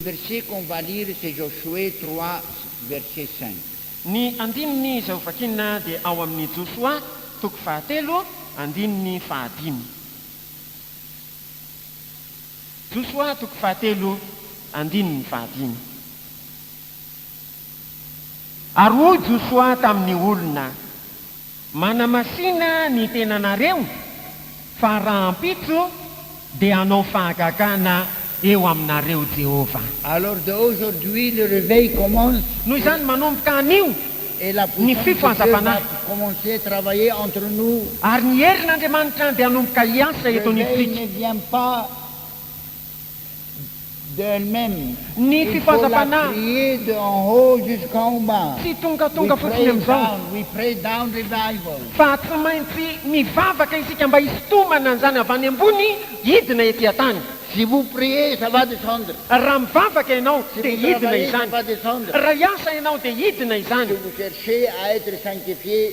Verset qu'on va lire c'est Josué trois verset cinq. Ny andininy izay hovakina dia ao amin'ny Josoa toko fahatelo andininy fahadimy. Josoa toko fahatelo andininy fahadimy. Ary hoy Josoa tamin'ny olona, Manamasina ny tenanareo fa rahampitso dia hanao fahagagana eo aminareo Jehovah. Alors de aujourd'hui le reveil commence Noho izany manomboka anio et la ny puissance de Dieu va fifohazam-panahy, commencer à travailler entre nous. ary ny herin'Andriamanitra dia hanomboka hiasa eto Reveil anivontsika. ne vient pas. Ny fifazam-panahy tsy tongatonga fotsiny amin'izao, fa tsy maintsy mivavaka isika mba hisintomana an'izany avy any ambony hidina ety an-tany. Raha mivavaka ianao, dia hidina izany. Raha hiasa ianao, dia hidina izany.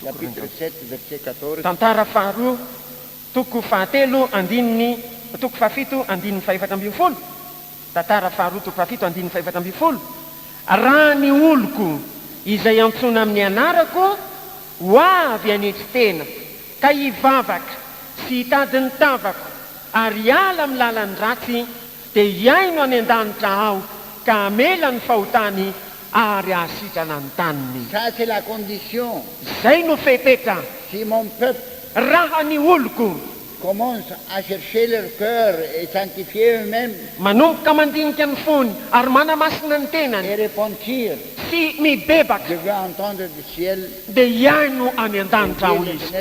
Chapitre sept verset quatorze. Tantara faharoa toko fahatelo andininy toko fahafito andininy fahefatra ambin'ny folo Tantara faharoa toko fahafito andininy fahefatra ambin'ny folo Raha ny oloko izay antsoina amin'ny anarako ho avy hanetry tena ka hivavaka sy hitady ny tavako ary hiala amin'ny lalan'ny ratsy Dia hihaino any an-danitra Aho ka hamela ny fahotany ary hahasitrana ny taniny. Ça c'est la condition. Izay no fepetra. Si mon peuple. Raha ny oloko. Commence à chercher leur cœur et sanctifier eux-mêmes. Manomboka mandinika ny fony ary manamasina ny tenany. Et repentir. Sy mibebaka. Je veux entendre du ciel. Dia hihaino any an-danitra Aho izy.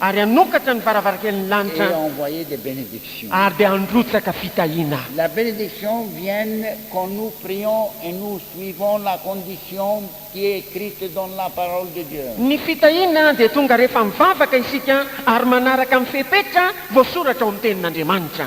ary hanokatra ny varavarankelin'ny lanitra, ary dia handrotsaka fitahiana. Ny fitahiana dia tonga rehefa mivavaka isika ary manaraka amin'ny fepetra voasoratra ao amin'ny Tenin'Andriamanitra.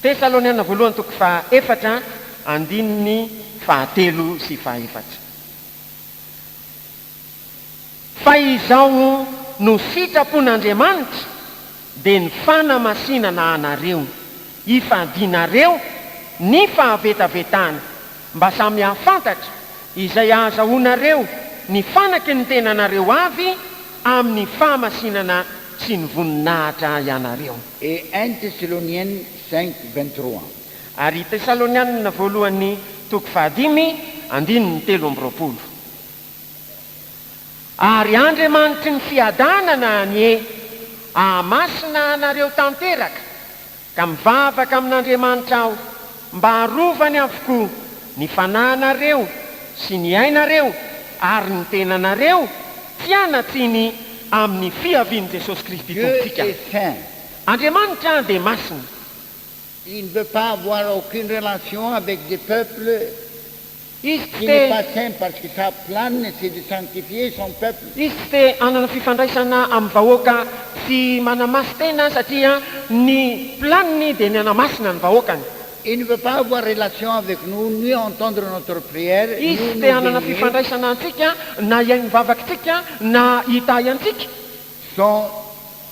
Tesaloniana Voalohany toko faha efatra andininy faha telo sy faha efatra Fa izao no sitrapon'Andriamanitra, dia ny fanamasinana anareo, hifadianareo ny fahavetavetana, mba samy hahafantatra izay hahazahoanareo ny fanaky ny tenanareo avy amin'ny fahamasinana sy ny voninahitra ianareo. Et un Thessaloniens cinq, vingt trois. Ary i Tesalonianina Voalohany toko fahadimy, andininy telo amby roapolo. Ary Andriamanitry ny fiadanana anie ahamasina anareo tanteraka, ka mivavaka amin'Andriamanitra aho, Mba arovany avokoa ny fanahinareo sy ny ainareo ary ny tenanareo tsy hanatsiny amin'ny fiavian'i Jesosy Kristy Tompontsika. Andriamanitra dia masina. Izy tsy te. Izy tsy te hanana fifandraisana amin'ny vahoaka sy manamaso tena satria ny planiny dia ny hanamasina ny vahoakany. Izy tsy te hanana fifandraisana antsika na hihaino vavakitsika na hitahy antsika.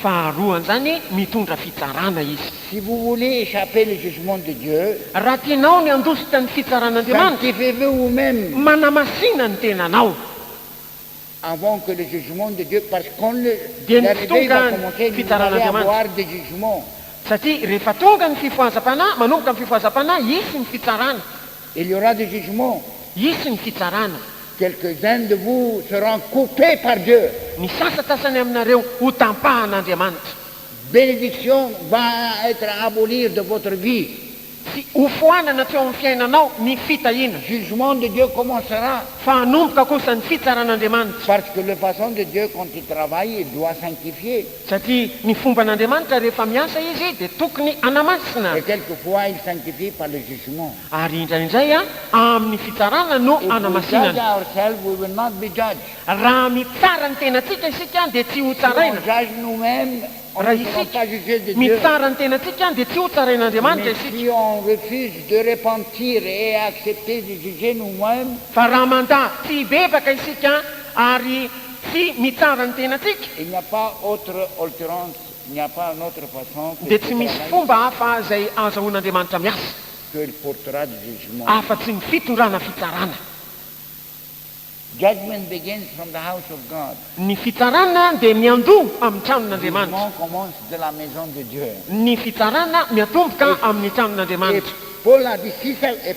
Faharoa an'izany, mitondra fitsarana izy. Si vous voulez echapper le jugement de Dieu, Raha tianao ny handositra ny fitsaran'Andriamanitra, sanctifiez-vous vous-même manamasina ny tenanao, avant que le jugement de Dieu, parce qu'on ne, dia ny tsy l'arrivée tonga va ny commencer, nous allons fitsaran'Andriamanitra. avoir des jugements. Satria rehefa tonga ny fifohazam-panahy, manomboka ny fifohazam-panahy, hisy ny fitsarana. Il y aura du jugement. Hisy ny fitsarana. Quelques uns de vous seront coupes par Dieu. Ny sasantsasany aminareo hotampahan'Andriamanitra. Bénédiction va être abolir de votre vie. Tsy hofoanana teo amin'ny fiainanao ny fitahiana. Jugement de Dieu commencera. Fa hanomboka kosa ny fitsaran'Andriamanitra. Parce que le façon de Dieu quand il travaille il doit sanctifier. Satria ny fomban'Andriamanitra rehefa miasa Izy dia tokony hanamasina. Et quelques fois il sanctifie par le jugement. Ary indraindray amin'ny fitsarana no If we judge hanamasinana. ourselves we will not be judged. Raha mitsara ny tenantsika isika dia tsy Si on hotsaraina. judge nous memes on Raha n'y sera pas juge de isika Dieu. mitsara ny tenantsika dia tsy hotsarain'Andriamanitra Mais si isika. on refuse de repentir et accepter de juger nous memes. Fa raha mandà tsy hibebaka isika ary. Tsy mitsara ny tenantsika. Il n'y a pas autre oltrance, il n'y a pas un autre façon que Dia tsy misy Sitaraina fomba izy. hafa izay ahazahoan'Andriamanitra miasa Que il portera du jugement. afa-tsy ny fitondrana fitsarana. Judgment begins from the house of God. Ny fitsarana dia miandoha amin'ny tranon'Andriamanitra. Jugement commence de la maison de Dieu. Ny fitsarana miatomboka Et, amin'ny et tranon'Andriamanitra. Paul a dit, si ça, et.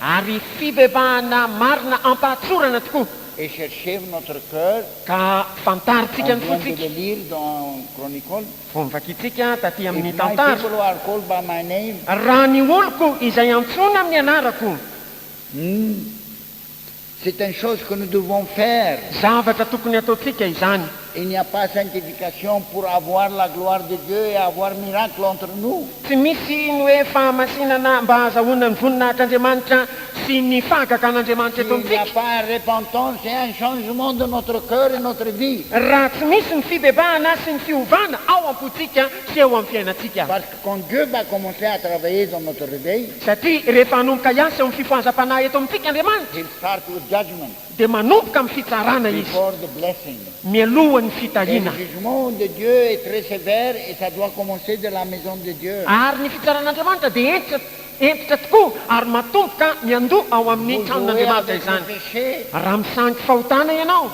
Ary fibebahana marina ampahatsorana tokoa. Et chercheve notre cœur. Ka fantarintsika ny fontsika. On vient de le lire dans Chronicle. Vao novakintsika taty amin'ny tantara. If my people who are called by my name. Raha ny oloko izay antsoina amin'ny anarako. Ny. C'est un chose que nous devons faire. Zavatra tokony hataontsika izany. Il n'y a pas sanctification pour avoir la gloire de Dieu et avoir miracle entre nous. Tsy misy ny hoe fahamasinana mba hahazahoana ny voninahitr'Andriamanitra sy ny fahagagan'Andriamanitra eto S'il n'y a amintsika. pas repentance et un changement de notre cœur et notre vie. Raha tsy misy ny fibebahana sy ny fiovana ao am-pontsika sy eo amin'ny fiainantsika. Quand Dieu va commencer à travailler dans notre reveil. Satria rehefa hanomboka hiasa eo amin'ny fifohazam-panahy eto amintsika Andriamanitra. He'll start with judgement. Dia manomboka amin'ny fitsarana Izy. Before the blessing. Mialohan'ny Et le fitahiana. jugement de Dieu est très sévère et ça doit commencer de la maison de Dieu. Ary ny fitsaran'Andriamanitra dia hentitra. Hentitra tokoa ary matomboka ny handoa ao amin'ny tranon'Andriamanitra izany. Raha misangy fahotana ianao,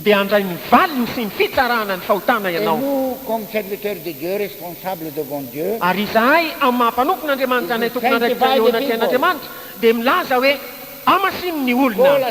dia handray ny valiny sy ny fitsarana ny fahotana ianao. Ary izahay, amin'ny maha mpanompon'Andriamanitra anay tompon'andraikitra eo anatrehan'Andriamanitra, dia milaza hoe, Amasino ny olona!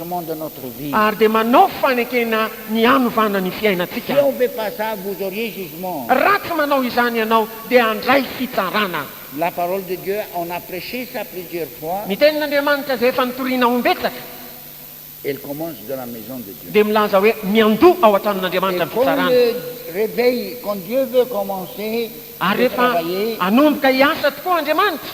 Ary dia manao fanekena ny hanovana ny fiainantsika. Raha tsy manao izany ianao, dia handray fitsarana. Ny Tenin'Andriamanitra izay efa notorina ho imbetsaka, dia milaza hoe, Miandoha ao an-tranon'Andriamanitra ny fitsarana. Ary rehefa hanomboka hiasa tokoa Andriamanitra,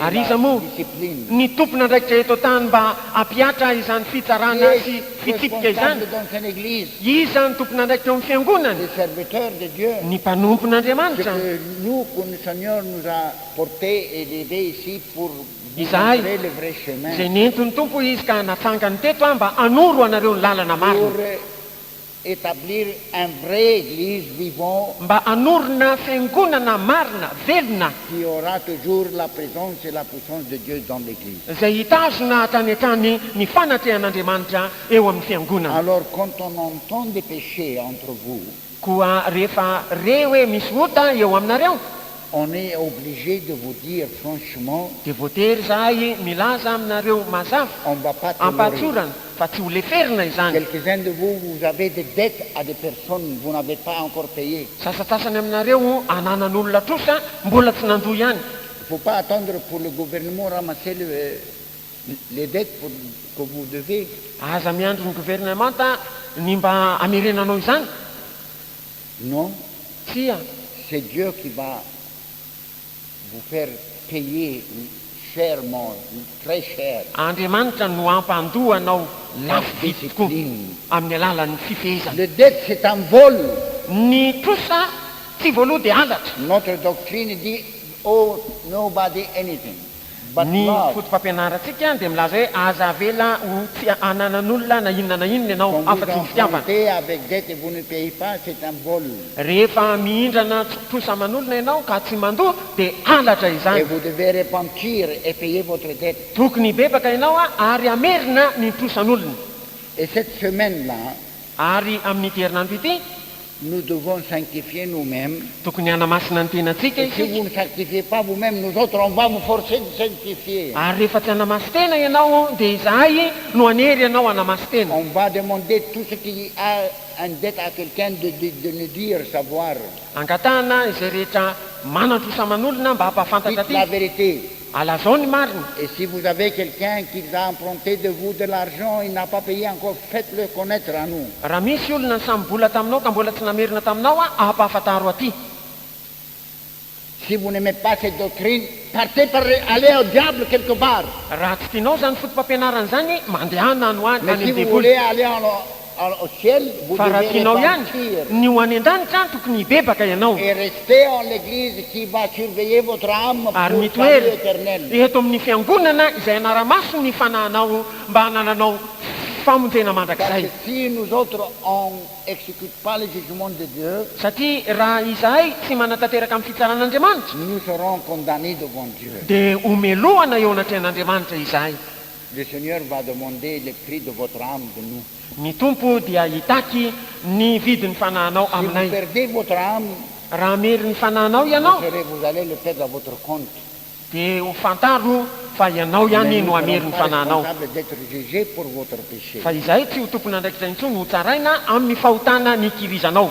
Ary iza moa ny tompon'andraikitra eto an-tany mba hampihatra izany fitsarana sy fitsipika izany? Iza ny tompon'andraikitra eo amin'ny Fiangonana? Ny mpanompon'Andriamanitra. Izahay, izay nentin'ny Tompo Izy ka natsangany teto aho mba hanoro anareo ny lalana marina. Etablir un vrai eglise vivant. Mba hanorina fiangonana marina, velona. Qui aura toujours la presence et la puissance de Dieu dans l'eglise. Izay hitazona hatrany hatrany ny fanatrehan'Andriamanitra eo amin'ny fiangonana. Alors quand on entend des péchés entre vous. Koa rehefa re hoe misy ota eo aminareo. On est obligé de vous dire franchement. Dia voatery izahay milaza aminareo mazava, ampatsorana. fa tsy ho leferina izany. Quelques uns de vous, vous avez des dettes à des personnes vous n'avez pas encore payées. Sasantsasany aminareo ananan'olona trosa mbola tsy nandoa ihany. Il faut pas attendre pour le gouvernement ramasser le les dettes pour que vous devez. Aza miandry ny governemanta ny mba hamerenanao izany. Non, Tsia. c'est Dieu qui va. vous faire payer chèrement, très cher. Andriamanitra no hampandoa anao lafo vidy tokoa amin'ny alalan'ny fifehezana. Le dette c'est un vol. Ny trosa tsy voaloha dia halatra. Notre doctrine dit owe nobody anything. Ny fotopampianarantsika dia milaza hoe aza avela ho tsy ananan'olona na inona na inona ianao afa-tsy ny fitiavana. Rehefa mihindrana trosa aman'olona ianao ka tsy mandoa dia halatra izany. Tokony hibebaka ianao ary hamerina ny trosan'olona. Ary amin'ity herinandro ity. Nous devons sanctifier nous-mêmes. Tokony hanamasina ny tenantsika isika. Et si vous ne sanctifiez pas vous-mêmes, nous autres on va vous forcer de sanctifier. Ary rehefa tsy hanamasin-tena ianao, dia izahay no hanery anao hanamasin-tena. On va demander tout ce qui a un debt à quelqu'un de de nous dire, savoir. Angatahana izay rehetra manan-trosa aman'olona mba hampahafantatra aty. Dites la vérité. Alazao ny marina. Et si vous avez quelqu'un qui a emprunté de vous de l'argent, il n'a pas paye encore, faites le connaitre à nous. Raha misy olona nisamy bola taminao ka mbola tsy namerina taminao aho, ampahafantaro aty. Si vous n'aimez pas cette doctrine, partez par le, allez au diable quelque part. Raha tsy tianao izany fotopampianarana izany, mandehana any ho any, Mais any si amin'ny vous devoly. voulez aller en. Fa raha tianao ihany ny ho any an-danitra an, tokony hibebaka ianao. Ary mitoery eto amin'ny Fiangonana izay hanara-maso ny fanahinao mba hanananao famonjena mandrakizay. Satria raha izahay tsy manatanteraka amin'ny fitsaran'Andriamanitra, dia homelohana eo anatrehan'Andriamanitra izahay. Le Seigneur va demander le prix de votre âme de nous. Ny Tompo dia hitaky ny vidin'ny fanahinao Si vous aminay. perdez votre âme, Raha hamery ny fanahinao vous ianao, serez, vous allez le perdre à votre compte. dia ho fantaro fa ianao Mais ihany nous no ne hamery sommes ny pas fanahinao. responsables d'etre juges pour votre péché. Fa izahay tsy ho tompon'andraikitra intsony hotsaraina amin'ny fahotana nikirizanao.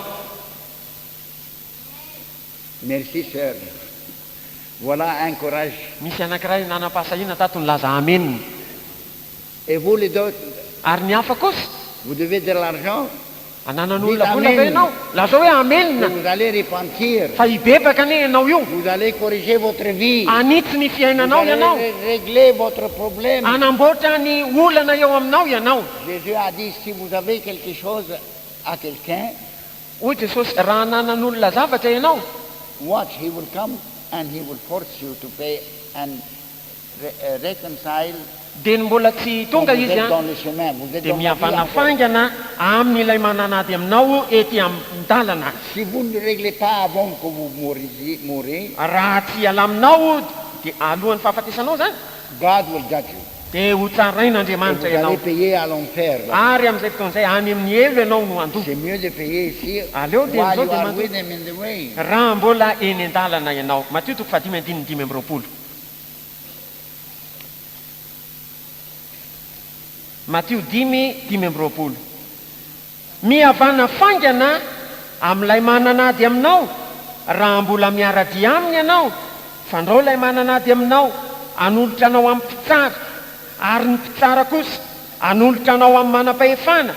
Merci soeur. Voilà un courage. Nisy anankiray nanam-pahasahiana tato nilaza Amen. Et vous les autres? Ary ny hafa kosa? Vous devez de l'argent? Ananan'olona vola ve ianao? Lazao hoe Amen. Et vous allez repentir. Fa hibebaka anie ianao io. Vous allez corriger votre vie. Hanitsy ny fiainanao ianao. Vous allez régler votre problème. Hanamboatra ny olana eo aminao ianao. Jesus a dit, si vous avez quelque chose à quelqu'un. Hoy Jesosy, Raha hananan'olona zavatra ianao. Watch he will come and he will force you to pay and reconcile. Dia ny mbola tsy tonga Izy, dia mihavana faingana amin'ilay manan'ady aminao ety an-dalana. Si vous ne reglez pas avant que vous mouriez. Raha tsy ialaminao, dia alohan'ny fahafatesanao izany. God will judge you. Dia hotsarain'Andriamanitra ianao. Ary amin'izay fotoana izay, any amin'ny helo ianao no handoa. Aleo dia amin'izao dia mandoa, raha mbola eny an-dalana ianao. Matio toko fahadimy andininy dimy amby roapolo. Matio dimy, dimy amby roapolo. Mihavana faingana amin'ilay manan'ady aminao raha mbola miara-dia aminy ianao, fandrao ilay manan'ady aminao hanolotra anao amin'ny mpitsara, ary ny mpitsara kosa hanolotra anao amin'ny manam-pahefana,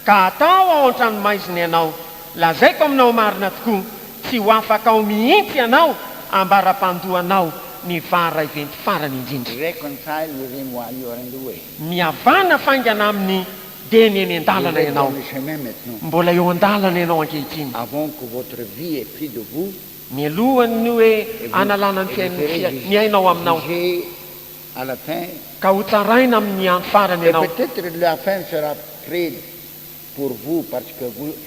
ka hatao ao an-tranomaizina ianao. Lazaiko aminao marina tokoa, tsy ho afaka ao mihitsy ianao ambara-pandoanao ny vara iventy farany indrindra. Reconcile with him while you are in the way. Mihavana faingana aminy. Dia ny eny an-dalana ianao. Mbola eo an-dalana ianao ankehitriny. Mialohan'ny hoe analana ny fiainan'ny fiainana, ny ainao aminao, ka ho tsaraina amin'ny andro farany ianao.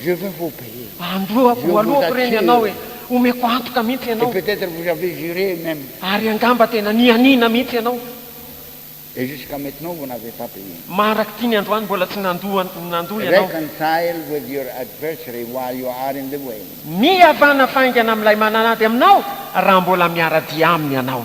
Je vais vous payer. Androako, Je vous aloako re ny assure. anao e! Omeko antoka mihitsy Et ianao. peut-être vous avez juré même. Ary angamba tena nianiana mihitsy ianao. Et jusqu'à maintenant vous n'avez pas payé. Marank'itiny androany mbola tsy nandoa nandoa ianao. Reconcile with your adversary while you are in the way. Mihavana faingana amin'ilay mananady aminao raha mbola miara-dia aminy ianao.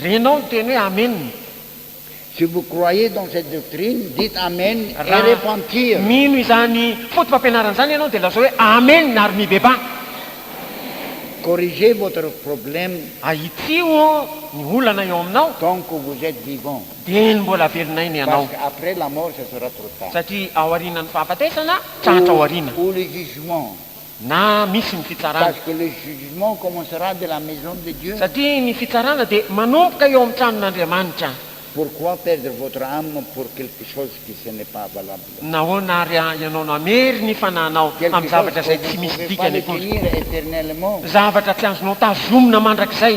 Renao niteny hoe Amen. Si vous croyez dans cette doctrine, dites Amen et repentir. Raha mino izany foto-pampianarana izany ianao dia lazao hoe Amen ary mibebaha. Corrigez votre problème. Ahitsiho ny olana eo aminao. Tant que vous etes vivant. Dieny mbola velon'aina ianao. Parce que après la mort ça sera trop tard. Satria aorianan'ny fahafatesana, tratra aoriana. Ou le jugement. Na misy ny fitsarana. Satria ny fitsarana dia manomboka eo amin'ny tranon'Andriamanitra. Nahoana àry ianao namery ny fanahinao amin'ny zavatra izay tsy misy dikany akory, zavatra tsy azonao tazomina mandrakizay?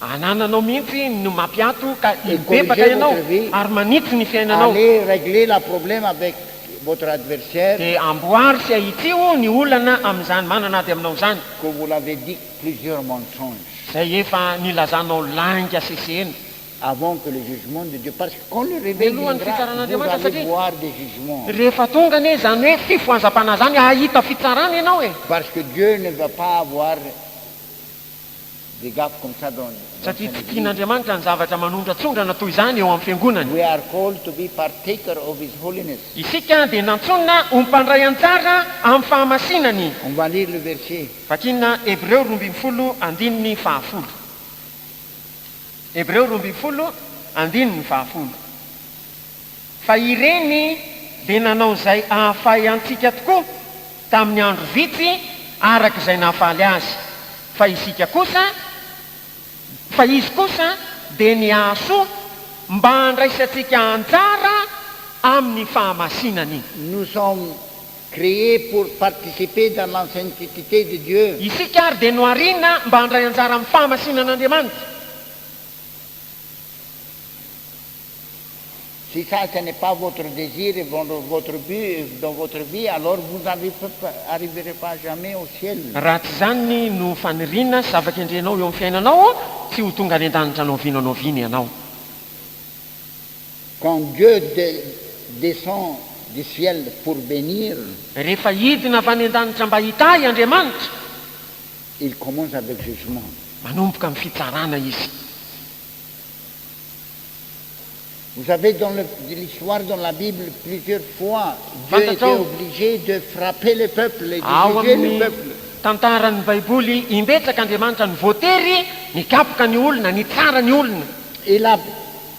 Anananao mihitsy no mampiato ka hibebaka ianao ary manitsy ny fiainanao. Dia amboary sy ahitsiho ny olana amin'izany manana ady aminao izany. Izay efa nilazanao lainga sy sehena. Mialohan'ny fitsaran'Andriamanitra satria rehefa tonga anie izany hoe fifohazam-panahy izany hahita fitsarana ianao e. satria tsy tian'Andriamanitra ny zavatra manondratsondrana toy izany eo amin'ny Fiangonany. Isika dia nantsoina ho mpandray anjara amin'ny fahamasinany. Vakina Hebreo roa ambin'ny folo andininy fahafolo. Hebreo roa ambin'ny folo andininy fahafolo. fa ireny dia nanao izay hahafahy antsika tokoa tamin'ny andro vitsy araka izay nahafaly azy, fa isika kosa, fa izy kosa dia nihasoa mba handraisantsika anjara amin'ny fahamasinany. Nous sommes crees pour participer dans la sainteté de Dieu. Isika ary dia nohariana mba handray anjara amin'ny fahamasinan'Andriamanitra. Si ça ce n'est pas votre désir et votre but dans votre vie alors vous n'arriverez pas jamais au ciel. Raha tsy izany no faniriana sy zava-kendrenao eo amin'ny fiainanao, tsy ho tonga any an-danitra na oviana na oviana ianao. Quand Dieu descend du ciel pour bénir. Rehefa hidina avy any an-danitra mba hitahy Andriamanitra. Il commence avec jugement. Manomboka amin'ny fitsarana Izy. Vous avez dans le l'histoire dans la bible plusieurs fois Dieu était obligé de frapper les peuples et de juger les peuples. Ao amin'ny tantaran'ny baiboly imbetsaka Andriamanitra no voatery nikapoka ny olona, nitsara ny olona. Il a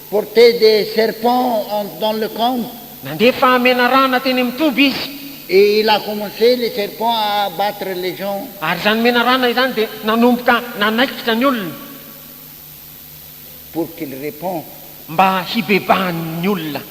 porté des serpents en dans le camp. Nandefa menarana teny amin'ny toby izy. Et il a commencé les serpents à abattre les gens. Ary izany menarana izany dia nanomboka nanaikitra ny olona. pour qu'il repond. Mba hibebahan'ny olona.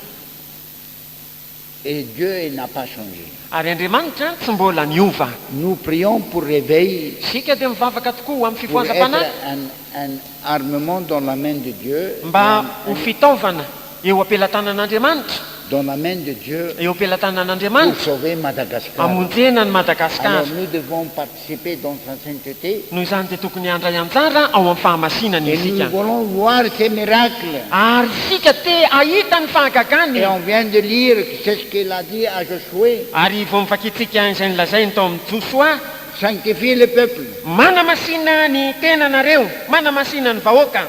Et Dieu et n'a pas changé. Ary Andriamanitra tsy mbola niova. Nous prions pour réveil. Isika dia mivavaka tokoa ho amin'ny fifohazam-panahy. Pour être un armement dans la main de Dieu. Mba ho fitaovana eo am-pelatanan'Andriamanitra. Dans la main de Dieu. Eo am-pelatanan'Andriamanitra. Pour sauver Madagascar. Hamonjena an'i Madagasikara. Alors nous devons. CP dans sa sainteté. Noho izany dia tokony handray anjara ao amin'ny fahamasinany Et nous isika. voulons voir ces miracles. Ary isika te hahita ny fahagagany. Et on vient de lire que c'est ce qu'il a dit à Josué. Ary vao novakintsika izay nolazainy tao amin'i Josoa. Sanctifie le peuple. Manamasina ny tenanareo, manamasina ny vahoaka,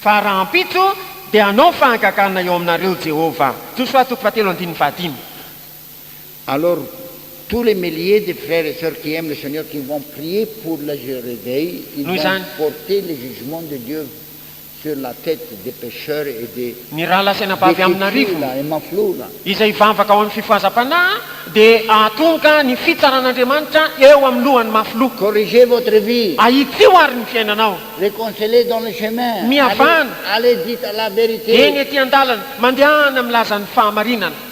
fa rahampitso dia hanao fahagagana eo aminareo Jehovah. Josoa toko fahatelo andininy fahadimy. Alors tous les milliers de frères et sœurs qui aiment le Seigneur qui vont prier pour le réveil ils Noho vont izany, porter le jugement de Dieu sur la tete des pecheurs et des Ny rahalahy sy anabavy des amin'arivony fetsila et maflola. izay hivavaka ao amin'ny fifohazam-panahy dia hahatonga ny fitsaran'Andriamanitra eo amin'ny lohan'ny mafiloha. Corrigez votre vie, Ahitsio àry ny fiainanao. reconcelez dans le chemin, allez, Mihavana. allez dites la vérité. Eny ety an-dalana, mandehana milaza ny fahamarinana.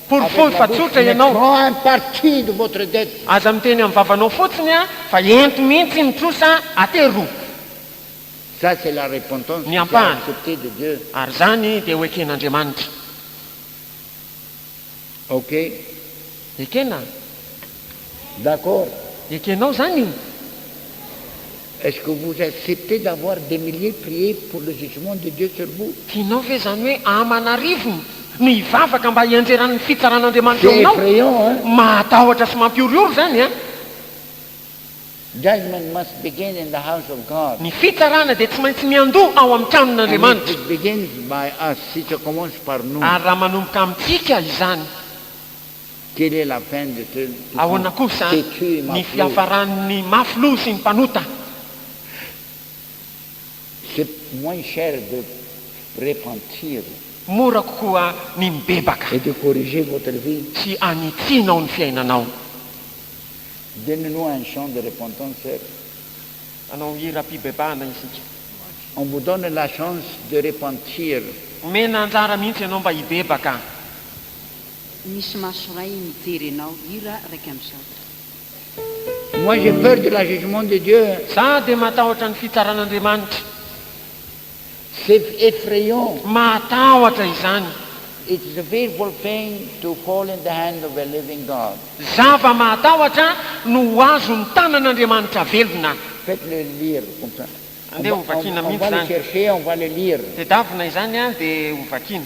Porofoy fa tsotra ianao. Aza miteny amin'ny vavanao fotsiny fa ento mihitsy ny trosa atero ny ampahany ary izany dia ho eken'Andriamanitra. Ekena. D'accord. Ekenao zany io? Est-ce que vous acceptez d'avoir des milliers prier pour le jugement de Dieu sur vous? Tianao ve zany hoe aman'arivony no hivavaka mba hianjeran'ny fitsaran'Andriamanitra eo aminao? C'est effrayant hein? Mahatahotra sy mampihorohoro zany an! Judgment must begin in the house of God. Ny fitsarana dia tsy maintsy miandoha ao amin'ny tranon'Andriamanitra. And if it begins by us, si ça commence par nous. Ary raha manomboka amintsika izany. Ahoana kosa ny fiafaran'ny mafy loha sy ny mpanota? Mora kokoa ny mibebaka sy anitsianao ny fiainanao. Hanao hiram-pibebahana isika. Omena anjara mihitsy ianao mba hibebaka. Misy maso ray mijery anao. Hira raika amby zato. Moi j'ai peur de la jugement de Dieu. Za dia matahotra ny fitsaran'Andriamanitra. C'est effrayant. Mahatahotra izany. It's a fearful thing to fall in the hand of a living God. Zava mahatahotra no ho azon'ny tanan'Andriamanitra velona. Faites le lire comme ça. Andeha ho vakiana mihitsy izany. On va le chercher, on va le lire. Tedavina izany dia ho vakiana.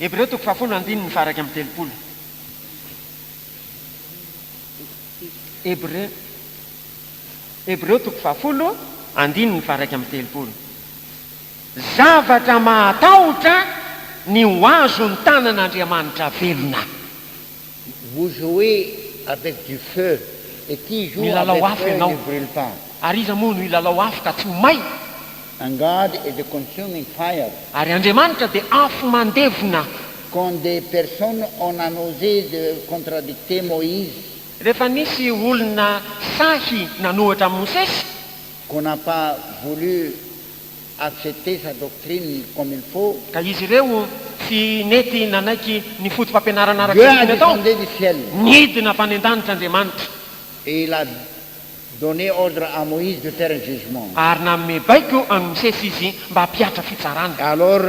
Hebreo toko fahafolo andininy faha-iraika amby telopolo. Hebreo, Hebreo toko fahafolo andininy faha-iraika amby telopolo. Zavatra mahatahotra ny ho azon-tanan'Andriamanitra velona. Vous jouez avec du feu et qui joue avec feu ne brule pas. Milalao afo ianao. Ary iza moa no hilalao afo ka tsy ho may? And God is the consuming fire. Ary Andriamanitra dia afo mandevona. Quand des personnes on a n'osé de contradicter Moïse. Rehefa nisy olona sahy nanohatra an'i Mosesy. Qu'on n'a pas voulu accepter sa doctrine comme il faut. Ka izy ireo tsy nety nanaiky ny fotopampianarana araka ny tokony atao. Nidina avy any an-danitra Andriamanitra. Et il a donne ordre à Moïse de faire un jugement. Ary nanome baiko an'i Mosesy Izy mba hampihatra fitsarana. Alors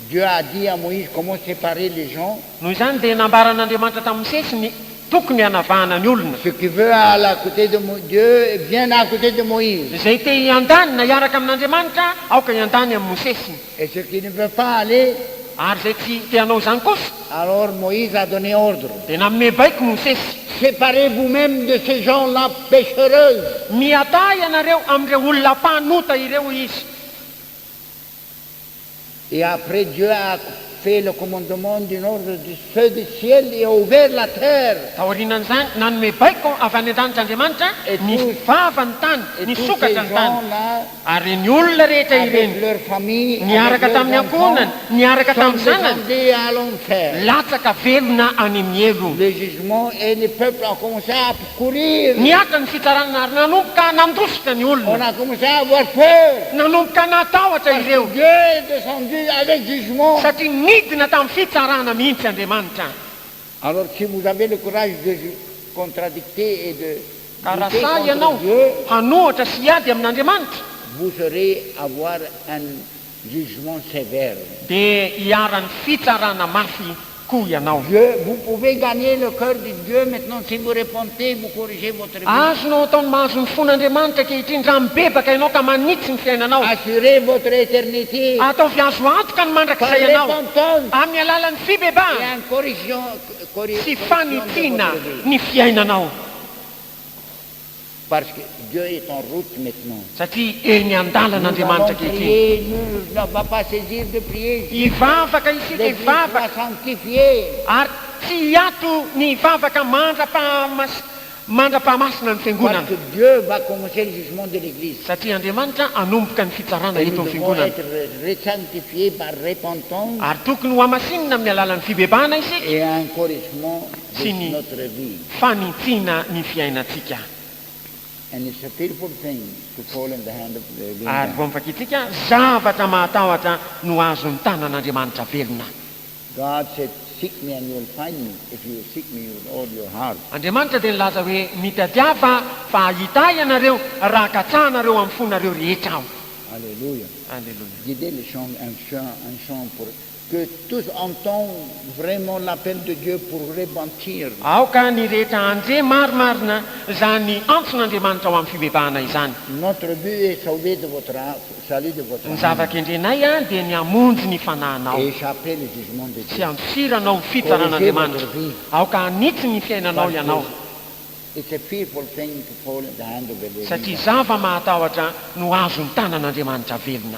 Dieu a dit à Moïse comment séparer les gens. Noho izany dia nambaran'Andriamanitra tamin'i Mosesy ny tokony hanavahana ny olona. Ce qui veut aller à côté de Dieu vienne à côté de Moïse. Izay te hiandany na hiaraka amin'Andriamanitra aoka hiandany amin'i Mosesy. Et ce qui ne veut pas aller. Ary izay tsy te hanao izany kosa. Alors Moïse a donné ordre. Dia nanome baiko Mosesy. Séparez vous-mêmes de ces gens-là péchereuses. Miadaa ianareo amin'ireo olona mpanota ireo, hoy izy. Et après Dieu a fait le commandement d'une ordre du feu du ciel et a ouvert la terre. Taorianan'izany, nanome baiko avy any an-danitra Andriamanitra ny vava ny tany, ny sokatra ny tany, ary ireny olona rehetra ireny, niaraka tamin'ny ankohonany, niaraka tamin'ny zanany, latsaka velona any amin'ny helo. Nihaja ny fitsarana ary nanomboka nandositra ny olona. Nanomboka natahotra ireo, satria nidina tamin'ny fitsarana mihitsy Andriamanitra. Ka raha sahy ianao hanohitra sy hiady amin'Andriamanitra, jugement sévère. Dia iharan'ny fitsarana mafy koa ianao. Dieu, vous pouvez gagner le cœur de Dieu maintenant si vous repentez, vous corrigez votre vie. Azonao atao ny mahazo ny fon'Andriamanitra ankehitriny raha mibebaka ianao ka manitsy ny fiainanao. Assurez votre éternité. Ataovy azo antoka ny mandrakizay ianao. Par repentance. Amin'ny alalan'ny fibebahana. Et en corrigeant, corrigeant votre vie. Sy fanitsiana ny fiainanao. Parce que Dieu est en route maintenant. Satria eny an-dalana Andriamanitra ankehitriny. Hivavaka isika, hivavaka, ary tsy hiato ny hivavaka mandra-pahamas, mandra-pahamasina ny Fiangonana. Satria Andriamanitra hanomboka ny fitsarana eto amin'ny Fiangonana. Ary tokony hohamasinina amin'ny alalan'ny fibebahana isika. sy ny fanintsiana ny fiainantsika. Ary vao mivakiantsika zavatra mahatahotra no azon'ny tanan'Andriamanitra velona. Andriamanitra dia nilaza hoe, Mitadiava fa hahita Ahy ianareo raha katsahanareo amin'ny fonareo rehetra Aho. Aleloia. Que tous entendent vraiment l'appel de Dieu pour repentir. Aoka ny rehetra handre marimarina izany antson'Andriamanitra ho amin'ny fibebahana izany. Notre but est sauver de votre âme, salut de votre âme. Ny zava-kendrenay dia ny hamonjy ny fananao. Et échapper le jugement de Dieu. Sy handosiranao ny fitsaran'Andriamanitra. Aoka hanitsy ny fiainanao ianao. Parce que it's a fearful thing to fall in the hand of a living God. Satria zava-mahatahotra no azon'ny tanan'Andriamanitra velona.